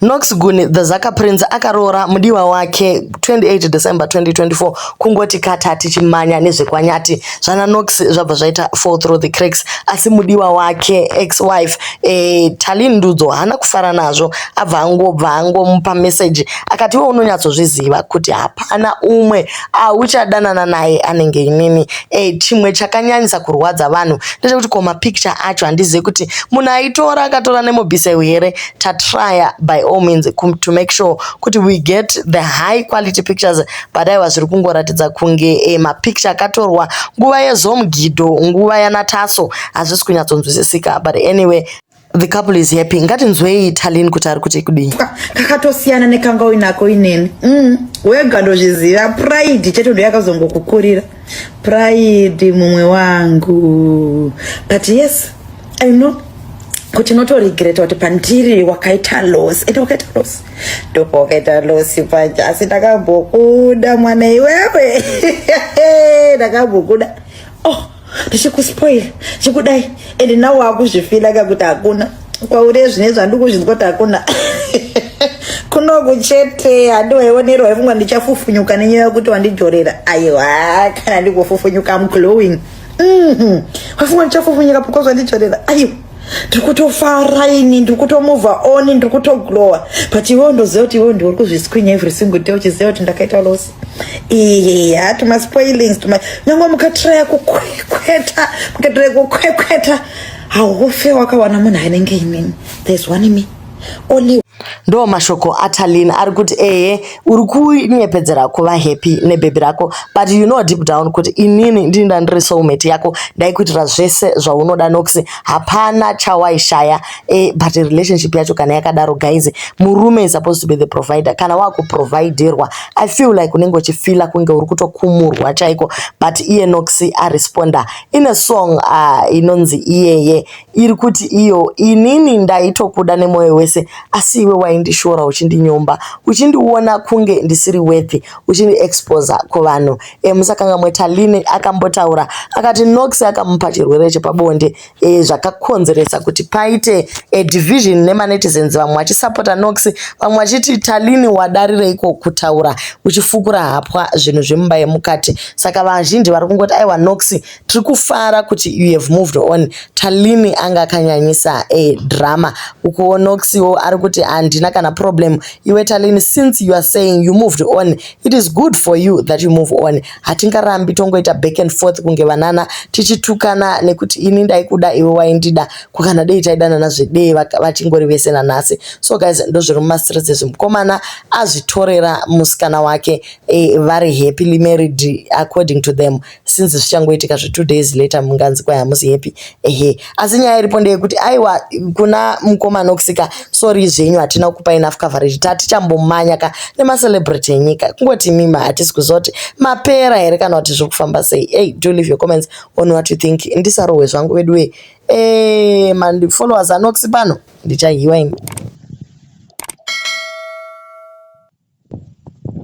Nox Guni The Zaka Prince akaroora mudiwa wake 28 December 2024 kungoti kata tichimanya nezvekwanyati zvana Nox zvabva zvaita fall through the cracks asi mudiwa wake ex wife eh, Tali Ndudzo haana kufara nazvo abva angobva angomupa message akati iwe unonyatsozviziva kuti hapana umwe auchadanana naye anenge inini eh, chimwe chakanyanyisa kurwadza vanhu ndechekuti koma picture acho handizive kuti munhu aitora akatora nemobiseu here tatryer by all means to make sure kuti we get the high quality pictures but aiwa zviri kungoratidza kunge e, mapicture akatorwa nguva yezomgidho nguva yanataso hazvisi kunyatsonzwisisika but anyway the couple is happy ngatinzwei italin kuti ari kuti kudii ah, kakatosiyana nekanga uinako inene mm, wega ndozviziva pride chete ndoyakazongokukurira Pride mumwe wangu. But yes, I know kuti notoregreta kuti pandiri wakaita loss ende wakaita loss ndipo wakaita loss paja asi ndakambokuda mwana iwewe ndakambokuda oh ndichikuspoil chikudai ende nawo akuzvifila kakuti hakuna kwauri zvine zvandikuzvinzwa kuti hakuna kunoku chete handiwaionerwa yefungwa ndichafufunyuka nenyaya yokuti wandijorera aiwa kana ndikufufunyuka am glowing mhm. wafungwa ndichafufunyuka because wandijorera aiwa ndiri kutofara ini ndiri kutomova on ndiri kutoglowa but iwewo ndoziva kuti iwewo ndiwe uri kuzvisquinya every single day uchiziva kuti ndakaita losi iya tumaspoilings tuma nyange mukatiraya kukwekweta mukatiraya kukwekweta haufe wakawana munhu anenge inini there's one me only ndo mashoko atalin ari kuti ehe uri kunyepedzera kuva happy nebhebhi rako but you know deep down kuti inini ndini ndandiri soulmate yako ndaikuitira zvese zvaunoda nokuti hapana chawaishaya e, but relationship yacho kana yakadaro guys murume is supposed to be the provider kana wakuproviderwa i feel like unenge uchifila kunge uri kutokumurwa chaiko but iye nokuti aresponda Ine song ah, inonzi iyeye iri kuti iyo inini ndaitokuda nemwoyo wese asi iwe waindishora uchindinyomba uchindiona kunge ndisiri worthy uchindiexposa kuvanhu emusakangamwe eh, Taline akambotaura akati Nox akamupa chirwere chepabonde e, zvakakonzeresa kuti paite a division nemanetizens vamwe vachisapota Nox vamwe vachiti Taline wadarireiko kutaura uchifukura hapwa zvinhu zvemumba yemukati saka vazhinji vari kungoti aiwa nox tiri kufara kuti you have moved on talini anga akanyanyisa e drama ukuwo nox wo ari kuti handina kana problem iwe talini since you are saying you moved on it is good for you that you move on hatingarambi tongoita back and forth kunge vanana tichitukana nekuti ini ndaikuda iwe waindida kukana dei taidanana zvedee vachingori vese nanhasi so guys ndozviri mumastreets ezvi mukomana azvitorera musikana wake e, vari happily married according to them since zvichangoitika zvetwo days later munganzi kwai hamusi happy ehe asi nyaya iripo ndeyekuti aiwa kuna mukomana okusika sorry zvenyu hatina kupa enough coverage tatichambomanya ka nemacelebrity enyika kungoti mima hatisi kuziva kuti mapera here kana kuti zviri kufamba sei hey, do leave your comments on what you think ndisarohwe zvangu veduwe e, mandifollowers anoxi pano ndichahiwa ini